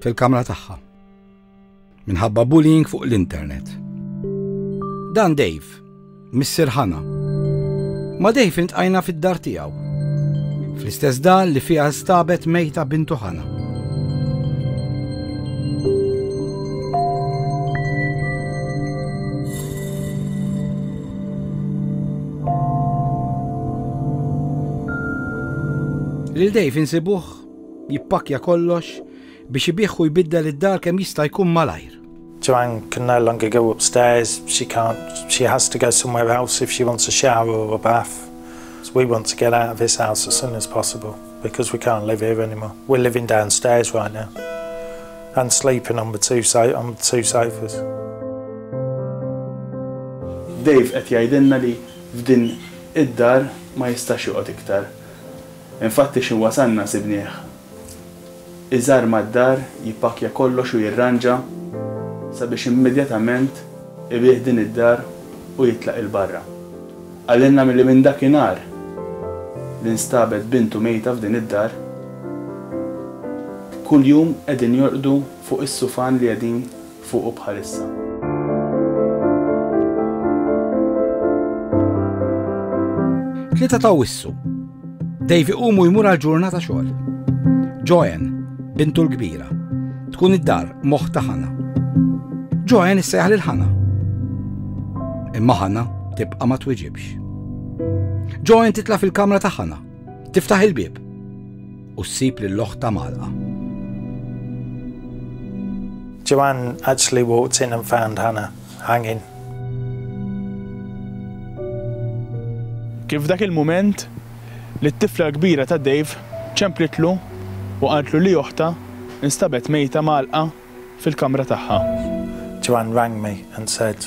fil-kamra tagħha minħabba bullying fuq l-internet. Dan Dave, Missir Hanna. Ma Dave intqajna fid-dar tiegħu. Fl-istess dar li fiha stabet mejta bintu Hanna. Lil Dave insibuh Jippakkja kollox biex ibigħ u jbiddel id-dar kemm jista' jkun malajr. Joanne can no longer go upstairs, she can't, she has to go somewhere else if she wants a shower or a bath. We want to get out of this house as soon as possible because we can't live here anymore. We're living downstairs right now and sleeping on the two, so on the two sofas. Dave qed jgħidilna li f'din id-dar ma jistax joqgħod iktar. Infatti xi wasalna sibnieh. Iżgħar mad-dar jippakkja kollox u jirranġa sabiex immedjatament ibigħ din id-dar u jitlaq 'il barra. Qalilna milli minn dakinhar li nstabet bintu mejta f'din id-dar, kuljum qegħdin jorqdu fuq is-sufan li qegħdin fuqu bħalissa. Tlieta ta' wissu. Davy qumu jmur għal ġurnata xogħol. Joanne, bintu l-kbira, tkun id-dar moħħ ta' ħana. Joanne issejħ lil ħana. Imma ħana tibqa' ma twiġibx. Joanne titla' fil-kamra ta' ħana, tiftaħ il-bieb. U ssib lil oħtha mgħalqa. Joanne actually walked in and found Hannah hanging. Kien f'dak il-mument li t-tifla l-kbira ta' Dave ċemplitlu u qaltlu li oħtha nstabet mejta mgħalqa fil-kamra tagħha. Joanne rang me and said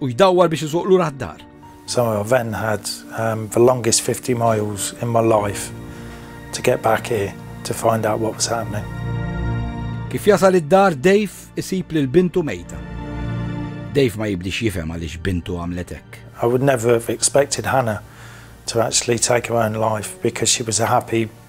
u jdawwar biex iżuq lura d-dar. So I then had um, the longest 50 miles in my life to get back here to find out what was happening. Kif jasal id-dar, Dave isib lil bintu mejta. Dave ma jibdix jifhem għaliex bintu għamlet hekk. I would never have expected Hannah to actually take her own life because she was a happy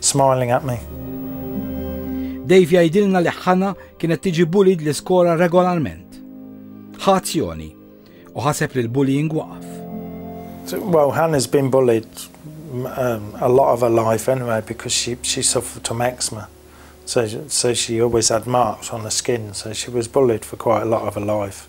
smiling at me. Dave jgħidilna li Hannah kienet tiġi bullied l-iskola regolarment. Ħa azzjoni u ħaseb li l-bullying waqaf. Well, Hannah's been bullied um, a lot of her life anyway because she, she suffered from eczema. So, so she always had marks on her skin, so she was bullied for quite a lot of her life.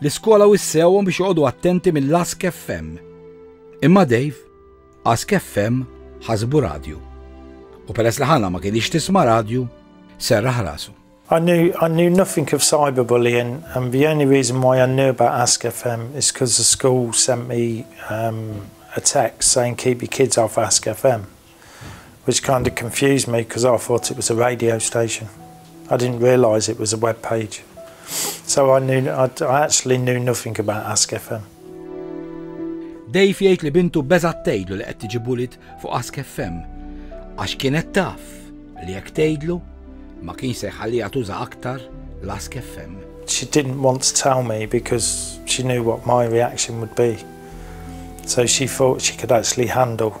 L-iskola wissewhom biex joqogħdu attenti mill-Ask FM. Imma Dave, Ask FM ħasbu radju. U peress li Hannah ma kienx tisma' radju, serraħ rasu. I knew, I knew nothing of cyberbullying, and the only reason why I knew about Ask FM is because the school sent me um, a text saying keep your kids off Ask FM. which kind of confused me because I thought it was a radio station. I didn't realise it was a web page. So I knew I, I actually knew nothing about Ask FM. Dave jgħid li bintu beżat tgħidlu li qed tiġi bulit fuq Ask FM għax kienet taf li jekk tgħidlu ma kien se jħallija tuża aktar l-Ask FM. She didn't want to tell me because she knew what my reaction would be. So she thought she could actually handle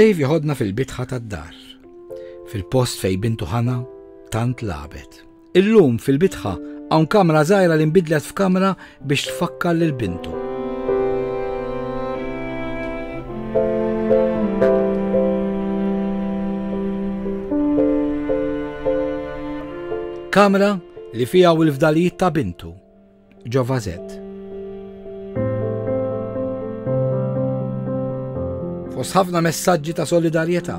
Dave joħodna fil-bitħa tad-dar, fil-post fej bintu ħana tant labet. Illum fil-bitħa hawn kamra żgħira li nbidlet f'kamra biex tfakkar lil bintu. Kamra li fiha u l-fdalijiet ta' bintu, ġova zed. Fos ħafna messaġġi ta' solidarjetà.